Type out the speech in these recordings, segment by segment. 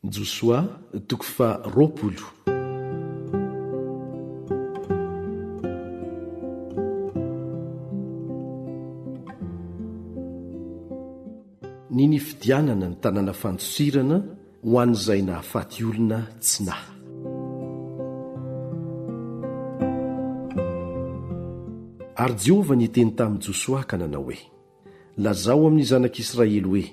Josoa toko faha roapolo. Ny nifidianana ny tanàna fandosirana ho an'izay nahafaty olona tsy naha. Ary Jehovah niteny tamin'i Josoa ka nanao hoe. Lazao amin'ny zanak'Israely hoe,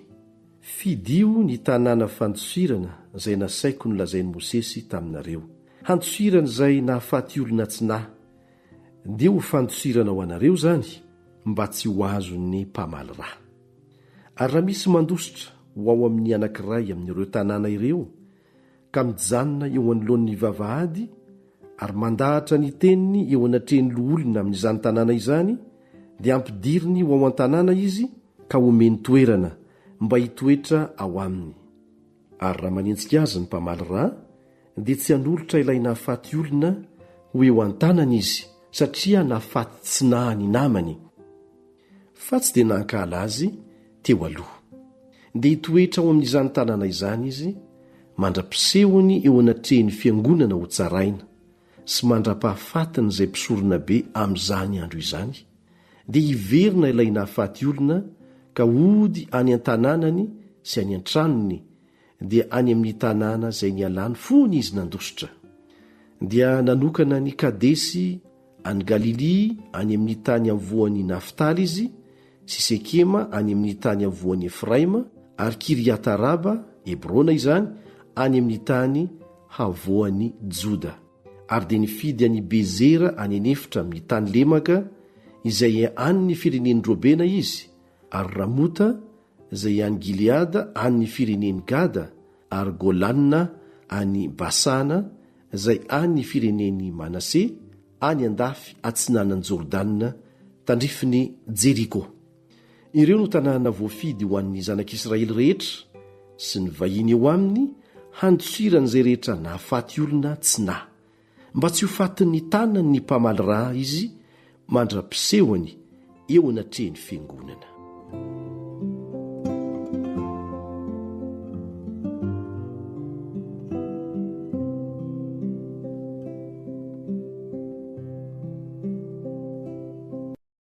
'Fidio ny tanàna fandosirana izay nasaiko nolazain'i Mosesy taminareo. Handosirana izay nahafaty olona tsy nahy. Dia ho fandosirana ho anareo izany mba tsy ho azon'ny mpamaly ra. Ary raha misy mandositra ho ao amin'ny anankiray amin'ireo tanàna ireo, ka mijanona eo anoloan'ny vavahady ary mandahatra ny teniny eo anatrehan'ny loholona amin'izany tanàna izany, dia ampidiriny ho ao an-tanàna izy ka omeny toerana mba hitoetra ao aminy. Ary raha manenjika azy ny mpamaly rà, dia tsy hanolotra ilay nahafaty olona ho eo an-tanany izy, satria nahafaty tsy nahy ny namany. fa tsy dia nankahala azy teo aloha. Dia hitoetra ao amin'izany tanàna izany izy mandra-pisehony eo anatrehin'ny Fiangonana hotsaraina, sy mandra-pahafatin'izay mpisoronabe amin'izany andro izany, dia hiverina ilay nahafaty olona ka hody any an-tanànany sy any an-tranony, dia any amin'ny tanàna izay nialany fony izy nandositra, dia nanokana an'i Kadesy any Galilia any amin'ny tany avoan'i Naftaly izy, sy Sekema any amin'ny tany avoan'i Efraima, ary Kiriata-raba, Hebrona izany, any amin'ny tany havoan'i Joda. Ary dia nifidy an'i Bezera any an'efitra amin'ny tany lemaka, izay an'ny firenen'i Robena izy, ary Ramota izay any Gileada any ny firenen'i Gada, ary Golana any Basana izay any ny firenen'i Manase, any andafy atsinanan'i Jordana, tandrifin'i Jeriko. Ireo no tanàna voafidy ho an'ny zanak'Israely rehetra sy ny vahiny eo aminy, handisoiran'izay rehetra nahafaty olona tsy naha. Mba tsy ho fatin'ny tanan'ny mpamaly ra izy mandra-pisehony eo anatrehan'ny fiangonana.